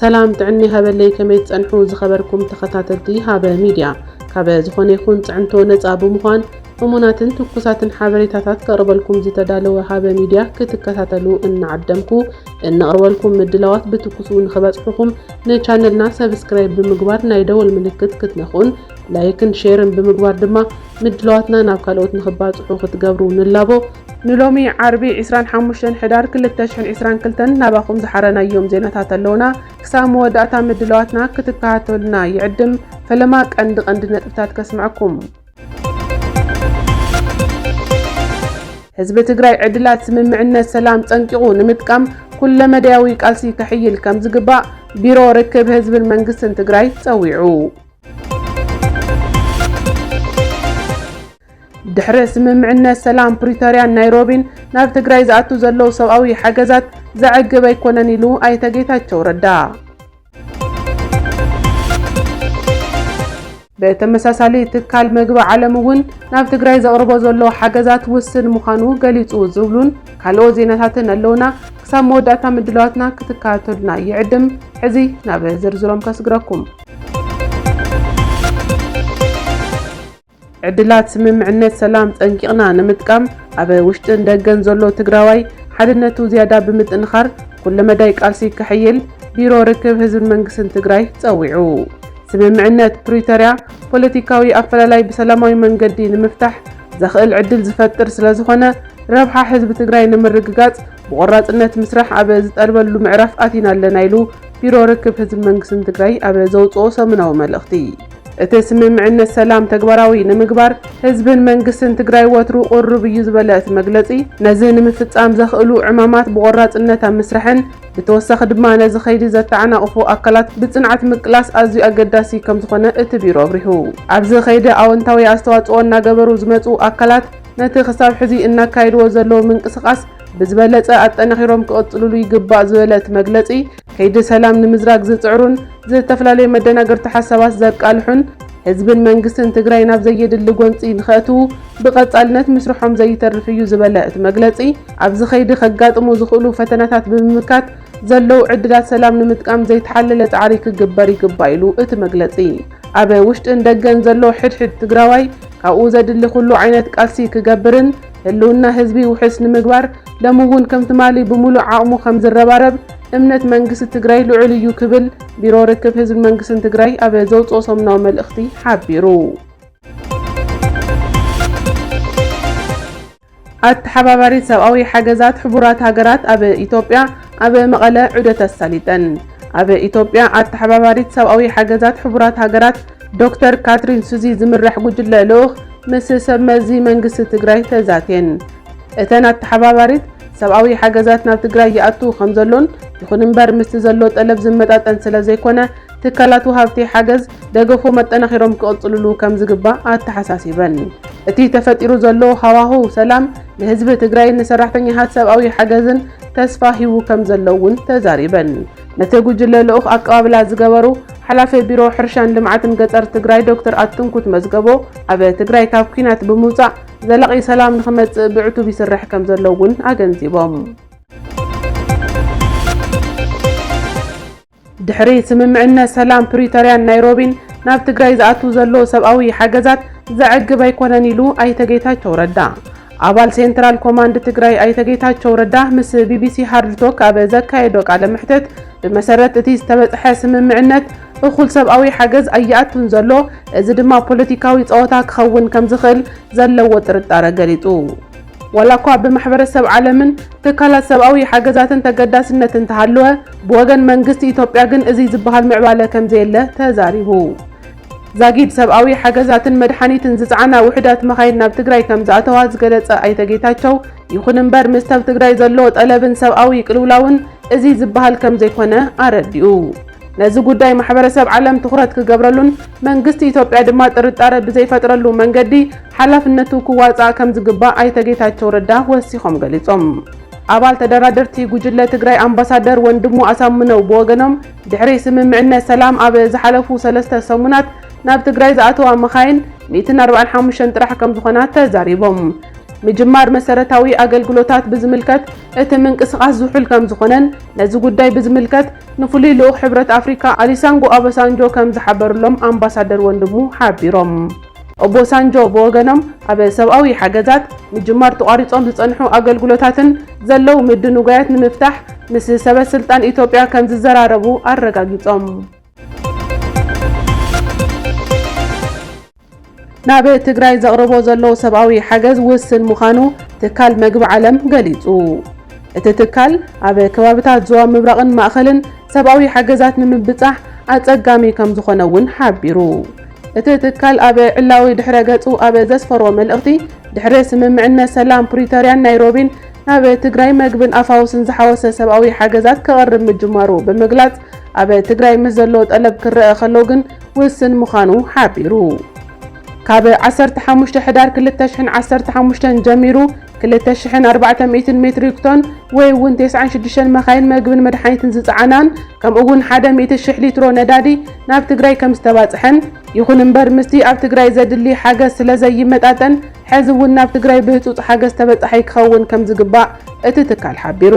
ሰላም ጥዕኒ ሃበለይ ከመይ ትጸንሑ ዝኸበርኩም ተኸታተልቲ ሃበ ሚድያ ካበ ዝኾነ ይኹን ጽዕንቶ ነጻ ብምዃን እሙናትን ትኩሳትን ሓበሬታታት ከቕርበልኩም ዝተዳለወ ሃበ ሚድያ ክትከታተሉ እናዓደምኩ እንቕርበልኩም ምድላዋት ብትኩሱ ንኽበጽሑኹም ንቻነልና ሰብስክራይብ ብምግባር ናይ ደወል ምልክት ክትነኹን ላይክን ሼርን ብምግባር ድማ ምድላዋትና ናብ ካልኦት ንኽባፅሑ ክትገብሩ ንላቦ። ንሎሚ ዓርቢ ዕስራን ሓሙሽተን ሕዳር ክልተ ሽሕን ዕስራን ክልተን ናባኹም ዝሓረናዮም ዜናታት ኣለዉና። ክሳብ መወዳእታ ምድላዋትና ክትከታተሉና ይዕድም። ፈለማ ቀንዲ ቀንዲ ነጥብታት ከስምዐኩም። ህዝቢ ትግራይ ዕድላት ስምምዕነት ሰላም ፀንቂቑ ንምጥቃም ኩለመዳያዊ ቃልሲ ከሕይል ከምዝግባእ ቢሮ ርክብ ህዝብን መንግስትን ትግራይ ፀዊዑ። ድሕሪ ስምምዕነት ሰላም ፕሪቶርያን ናይሮቢን ናብ ትግራይ ዝኣቱ ዘለዉ ሰብኣዊ ሓገዛት ዘዕግብ ኣይኮነን ኢሉ ኣይተ ጌታቸው ረዳ። ብተመሳሳሊ ትካል መግቢ ዓለም እውን ናብ ትግራይ ዘቕርቦ ዘሎ ሓገዛት ውስን ምዃኑ ገሊፁ ዝብሉን ካልኦት ዜናታትን ኣለውና። ክሳብ መወዳእታ ምድላዋትና ክትከታተሉና ይዕድም። ሕዚ ናብ ዝርዝሮም ከስግረኩም። ዕድላት ስምምዕነት ሰላም ፀንቂቕና ንምጥቃም ኣብ ውሽጥን ደገን ዘሎ ትግራዋይ ሓድነቱ ዝያዳ ብምጥንኻር ኩለመዳይ ቃልሲ ከሕይል ቢሮ ርክብ ህዝብን መንግስትን ትግራይ ፀዊዑ። ስምምዕነት ፕሪቶርያ ፖለቲካዊ ኣፈላላይ ብሰላማዊ መንገዲ ንምፍታሕ ዘኽእል ዕድል ዝፈጥር ስለዝኾነ ረብሓ ህዝቢ ትግራይ ንምርግጋፅ ብቖራፅነት ምስራሕ ኣብ ዝጠልበሉ ምዕራፍ ኣቲና ኣለና ኢሉ ቢሮ ርክብ ህዝብን መንግስትን ትግራይ ኣብ ዘውፅኦ ሰሙናዊ መልእኽቲ፣ እቲ ስምምዕነት ሰላም ተግባራዊ ንምግባር ህዝብን መንግስትን ትግራይ ወትሩ ቅሩብ እዩ ዝበለ እቲ መግለፂ፣ ነዚ ንምፍፃም ዘኽእሉ ዕማማት ብቖራፅነት ኣብ ምስራሕን ብተወሳኺ ድማ ነዚ ከይዲ ዘተዓናቕፉ ኣካላት ብፅንዓት ምቅላስ ኣዝዩ ኣገዳሲ ከምዝኾነ እቲ ቢሮ ኣብሪሁ። ኣብዚ ከይዲ ኣወንታዊ ኣስተዋፅኦ እናገበሩ ዝመፅኡ ኣካላት ነቲ ክሳብ ሕዚ እናካየድዎ ዘለዉ ምንቅስቓስ ብዝበለፀ ኣጠናኺሮም ክቕፅልሉ ይግባእ ዝበለ እቲ መግለፂ፣ ከይዲ ሰላም ንምዝራግ ዝፅዕሩን ዝተፈላለዩ መደናገርቲ ሓሳባት ዘቃልሑን ህዝብን መንግስትን ትግራይ ናብ ዘየድሊ ጎንፂ ንኸእትዉ ብቐፃልነት ምስርሖም ዘይተርፍ እዩ ዝበለ እቲ መግለፂ፣ ኣብዚ ከይዲ ከጋጥሙ ዝኽእሉ ፈተናታት ብምምካት ዘለዉ ዕድላት ሰላም ንምጥቃም ዘይተሓለለ ፃዕሪ ክግበር ይግባእ ኢሉ እቲ መግለፂ። ኣብ ውሽጥን ደገን ዘሎ ሕድ ሕድ ትግራዋይ ካብኡ ዘድሊ ኩሉ ዓይነት ቃልሲ ክገብርን፣ ህልውና ህዝቢ ውሕስ ንምግባር ሎሚ እውን ከም ትማሊ ብሙሉእ ዓቕሙ ከም ዝረባረብ እምነት መንግስቲ ትግራይ ልዑል እዩ ክብል ቢሮ ርክብ ህዝብን መንግስትን ትግራይ ኣብ ዘውፅኦ ሰሙናዊ መልእኽቲ ሓቢሩ። ኣተሓባባሪት ሰብኣዊ ሓገዛት ሕቡራት ሃገራት ኣብ ኢትዮጵያ ኣብ መቐለ ዑደት ኣሳሊጠን። ኣብ ኢትዮጵያ ኣተሓባባሪት ሰብኣዊ ሓገዛት ሕቡራት ሃገራት ዶክተር ካትሪን ሱዚ ዝምራሕ ጉጅለ ልኡኽ ምስ ሰብ መዚ መንግስቲ ትግራይ ተዛትየን። እተን ኣተሓባባሪት፣ ሰብኣዊ ሓገዛት ናብ ትግራይ ይኣቱ ከምዘሎን ይኹን እምበር ምስቲ ዘሎ ጠለብ ዝመጣጠን ስለዘይኮነ ትካላት ወሃብቲ ሓገዝ ደገፎም ኣጠናኺሮም ክቕፅልሉ ከምዝግባእ ኣተሓሳሲበን። እቲ ተፈጢሩ ዘሎ ሃዋህው ሰላም ንህዝቢ ትግራይን ንሰራሕተኛታት ሰብኣዊ ሓገዝን ተስፋ ሂቡ ከምዘሎ እውን ተዛሪበን። ነቲ ጉጅለ ልኡኽ ኣቀባብላ ዝገበሩ ሓላፊ ቢሮ ሕርሻን ልምዓትን ገፀር ትግራይ ዶክተር ኣትንኩት መዝገቦ ኣብ ትግራይ ካብ ኲናት ብምውፃእ ዘላቒ ሰላም ንኽመፅእ ብዕቱብ ይስራሕ ከምዘሎ እውን ኣገንዚቦም። ድሕሪ ስምምዕነት ሰላም ፕሪቶርያን ናይሮቢን ናብ ትግራይ ዝኣቱ ዘሎ ሰብኣዊ ሓገዛት ዘዕግብ ኣይኮነን ኢሉ ኣይተ ጌታቸው ረዳ። ኣባል ሴንትራል ኮማንድ ትግራይ ኣይተ ጌታቸው ረዳ ምስ ቢቢሲ ሃርድ ቶክ ኣብ ዘካየዶ ቃለ መሕተት ብመሰረት እቲ ዝተበፅሐ ስምምዕነት እኹል ሰብኣዊ ሓገዝ ኣይኣቱን ዘሎ፣ እዚ ድማ ፖለቲካዊ ፀወታ ክኸውን ከምዝኽእል ዘለዎ ጥርጣረ ገሊፁ። ዋላ እኳ ብማሕበረሰብ ዓለምን ትካላት ሰብኣዊ ሓገዛትን ተገዳስነት እንተሃለወ፣ ብወገን መንግስቲ ኢትዮጵያ ግን እዙይ ዝበሃል ምዕባለ ከምዘየለ ተዛሪቡ። ዛጊድ ሰብኣዊ ሓገዛትን መድሓኒትን ዝፀዓና ውሑዳት መኻይን ናብ ትግራይ ከምዝኣተዋ ዝገለፀ ኣይተ ጌታቸው፣ ይኹን እምበር ምስ ሰብ ትግራይ ዘሎ ጠለብን ሰብኣዊ ቅልውላውን እዚ ዝበሃል ከምዘይኮነ ኣረዲኡ። ነዚ ጉዳይ ማሕበረሰብ ዓለም ትኹረት ክገብረሉን መንግስቲ ኢትዮጵያ ድማ ጥርጣረ ብዘይፈጥረሉ መንገዲ ሓላፍነቱ ክዋፃእ ከምዝግባእ ኣይተ ጌታቸው ረዳ ወሲኾም ገሊፆም። ኣባል ተደራደርቲ ጉጅለ ትግራይ ኣምባሳደር ወንድሙ ኣሳምነው ብወገኖም፣ ድሕሪ ስምምዕነት ሰላም ኣብ ዝሓለፉ ሰለስተ ሰሙናት ናብ ትግራይ ዝኣተዋ መኻይን ሚእትን ኣርባዕን ሓሙሽተን ጥራሕ ከምዝኾና ተዛሪቦም። ምጅማር መሰረታዊ ኣገልግሎታት ብዝምልከት እቲ ምንቅስቓስ ዝሑል ከምዝኾነን ነዚ ጉዳይ ብዝምልከት ንፍሉይ ልኡኽ ሕብረት ኣፍሪካ ኣሊሳንጎ ኣበሳንጆ ከምዝሓበርሎም ኣምባሳደር ወንድሙ ሓቢሮም። ኦቦሳንጆ ብወገኖም ኣብ ሰብኣዊ ሓገዛት ምጅማር ተቋሪፆም ዝፀንሑ ኣገልግሎታትን ዘለዉ ምድንጓያት ንምፍታሕ ምስ ሰበ ስልጣን ኢትዮጵያ ከምዝዘራረቡ ኣረጋጊፆም። ናብ ትግራይ ዘቕርቦ ዘሎ ሰብኣዊ ሓገዝ ውስን ምዃኑ ትካል መግቢ ዓለም ገሊፁ። እቲ ትካል ኣብ ከባብታት ዞባ ምብራቕን ማእኸልን ሰብኣዊ ሓገዛት ንምብፃሕ ኣፀጋሚ ከምዝኾነ እውን ሓቢሩ። እቲ ትካል ኣብ ዕላዊ ድሕረ ገጹ ኣብ ዘስፈሮ መልእኽቲ፣ ድሕሪ ስምምዕነት ሰላም ፕሪቶርያን ናይሮቢን ናብ ትግራይ መግብን ኣፋውስን ዝሓወሰ ሰብኣዊ ሓገዛት ከቕርብ ምጅማሩ ብምግላጽ፣ ኣብ ትግራይ ምስ ዘሎ ጠለብ ክረኣ ከሎ ግን ውስን ምዃኑ ሓቢሩ። ካብ ዓሰርተ ሓሙሽተ ሕዳር ክልተ ሽሕን ዓሰርተ ሓሙሽተን ጀሚሩ ክልተ ሽሕን ኣርባዕተ ሚእትን ሜትሪክ ቶን ወይ እውን ቴስዓን ሽዱሽተን መኻይን መግብን መድሓኒትን ዝፀዓናን ከምኡ እውን ሓደ ሚእቲ ሽሕ ሊትሮ ነዳዲ ናብ ትግራይ ከም ዝተባፅሐን ይኹን እምበር ምስቲ ኣብ ትግራይ ዘድሊ ሓገዝ ስለ ዘይመጣጠን ሕዚ እውን ናብ ትግራይ ብህፁፅ ሓገዝ ተበፃሓይ ክኸውን ከም ዝግባእ እቲ ትካል ሓቢሩ።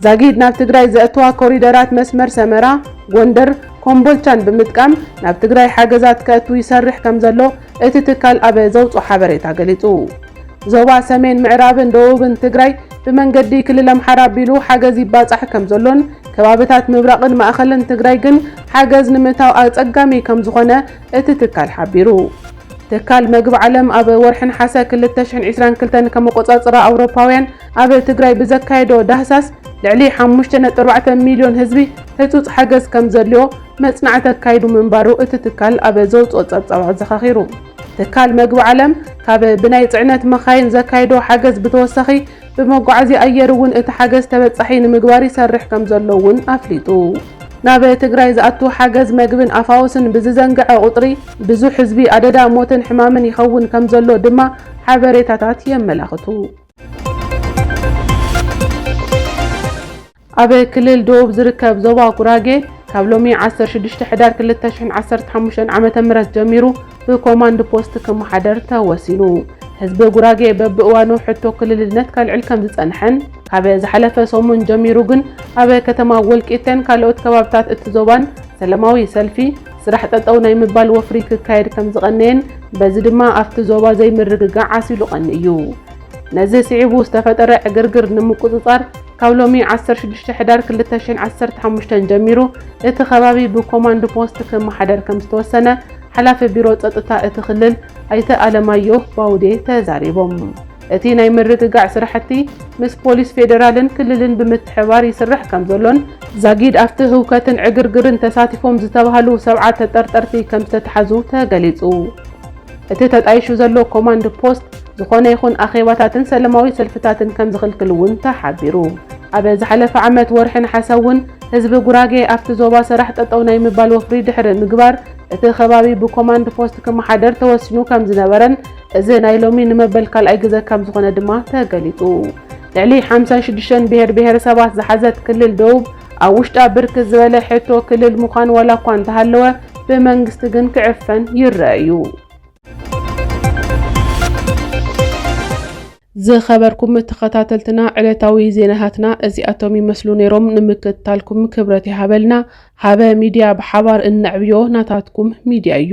ዛጊድ ናብ ትግራይ ዘእትዋ ኮሪደራት መስመር ሰመራ፣ ጎንደር፣ ኮምቦልቻን ብምጥቃም ናብ ትግራይ ሓገዛት ከእቱ ይሰርሕ ከም ዘሎ እቲ ትካል ኣብ ዘውፅኦ ሓበሬታ ገሊፁ። ዞባ ሰሜን ምዕራብን ደቡብን ትግራይ ብመንገዲ ክልል ኣምሓራ ኣቢሉ ሓገዝ ይባፃሕ ከምዘሎን ከባብታት ምብራቕን ማእኸልን ትግራይ ግን ሓገዝ ንምእታው ኣፀጋሚ ከምዝኾነ እቲ ትካል ሓቢሩ። ትካል መግቢ ዓለም ኣብ ወርሒ ነሓሰ ክልተ ሽሕን ዒስራን ክልተን ከም ኣቆፃፅራ ኣውሮፓውያን ኣብ ትግራይ ብዘካየዶ ዳህሳስ ልዕሊ ሓሙሽተ ነጥቢ ኣርባዕተ ሚልዮን ህዝቢ ህፁፅ ሓገዝ ከምዘድልዮ መፅናዕቲ ኣካይዱ ምንባሩ እቲ ትካል ኣብ ዘውፅኦ ፀብፃብ ኣዘኻኺሩ። ትካል መግቢ ዓለም ካብ ብናይ ፅዕነት መኻይን ዘካይዶ ሓገዝ ብተወሳኺ ብመጓዓዝያ ኣየር እውን እቲ ሓገዝ ተበፃሒ ንምግባር ይሰርሕ ከምዘሎ እውን ኣፍሊጡ። ናብ ትግራይ ዝኣቱ ሓገዝ መግብን ኣፋውስን ብዝዘንገዐ ቁፅሪ ብዙሕ ህዝቢ ኣደዳ ሞትን ሕማምን ይኸውን ከምዘሎ ድማ ሓበሬታታት የመላኽቱ። ኣብ ክልል ደቡብ ዝርከብ ዞባ ጉራጌ ካብ ሎሚ ዓሰርተ ሽዱሽተ ሕዳር ክልተ ሽሕን ዓሰርተ ሓሙሽተን ዓመተ ምህረት ጀሚሩ ብኮማንድ ፖስት ክመሓደር ተወሲኑ። ህዝቢ ጉራጌ በብእዋኑ ሕቶ ክልልነት ከልዕል ከም ዝጸንሐን ካብ ዝሓለፈ ሰሙን ጀሚሩ ግን ኣብ ከተማ ወልቂተን ካልኦት ከባብታት እቲ ዞባን ሰለማዊ ሰልፊ፣ ስራሕ ጠጠው ናይ ምባል ወፍሪ ክካየድ ከም ዝቐነየን በዚ ድማ ኣብቲ ዞባ ዘይምርግጋዕ ዓሲሉ ቀንዩ። ነዚ ስዒቡ ዝተፈጠረ ዕግርግር ንምቁጽጻር፣ ካብ ሎሚ ዓሰርተ ሽዱሽተ ሕዳር ክልተ ሽሕን ዓሰርተ ሓሙሽተን ጀሚሩ እቲ ከባቢ ብኮማንድ ፖስት ክመሓደር ከምዝተወሰነ ሓላፊ ቢሮ ፀጥታ እቲ ክልል ኣይተ ኣለማየሁ ባውዴ ተዛሪቦም። እቲ ናይ ምርግጋዕ ስራሕቲ ምስ ፖሊስ ፌዴራልን ክልልን ብምትሕብባር ይስራሕ ከምዘሎን ዛጊድ ኣብቲ ህውከትን ዕግርግርን ተሳቲፎም ዝተብሃሉ ሰብዓ ተጠርጠርቲ ከምዝተትሓዙ ተገሊፁ። እቲ ተጣይሹ ዘሎ ኮማንድ ፖስት ዝኾነ ይኹን ኣኼባታትን ሰለማዊ ሰልፍታትን ከምዝኽልክል እውን ተሓቢሩ። ኣብ ዝሓለፈ ዓመት ወርሒ ነሓሰ እውን ህዝቢ ጉራጌ ኣብቲ ዞባ ሰራሕ ጠጠው ናይ ምባል ወፍሪ ድሕሪ ምግባር እቲ ከባቢ ብኮማንድ ፖስት ክመሓደር ተወሲኑ ከምዝነበረን እዚ ናይ ሎሚ ንመበል ካልኣይ ግዘ ከምዝኾነ ድማ ተገሊፁ። ልዕሊ ሓምሳ ሽዱሽተ ብሄር ብሄረሰባት ዝሓዘት ክልል ደቡብ ኣብ ውሽጣ ብርክት ዝበለ ሕቶ ክልል ምዃን ዋላ እኳ እንተሃለወ ብመንግስቲ ግን ክዕፈን ይረኣ እዩ። ዝኸበርኩም ተኸታተልትና ዕለታዊ ዜናታትና እዚኣቶም ይመስሉ ነይሮም። ንምክትታልኩም ክብረት ይሃበልና። ሃበ ሚድያ ብሓባር እነዕብዮ ናታትኩም ሚድያ እዩ።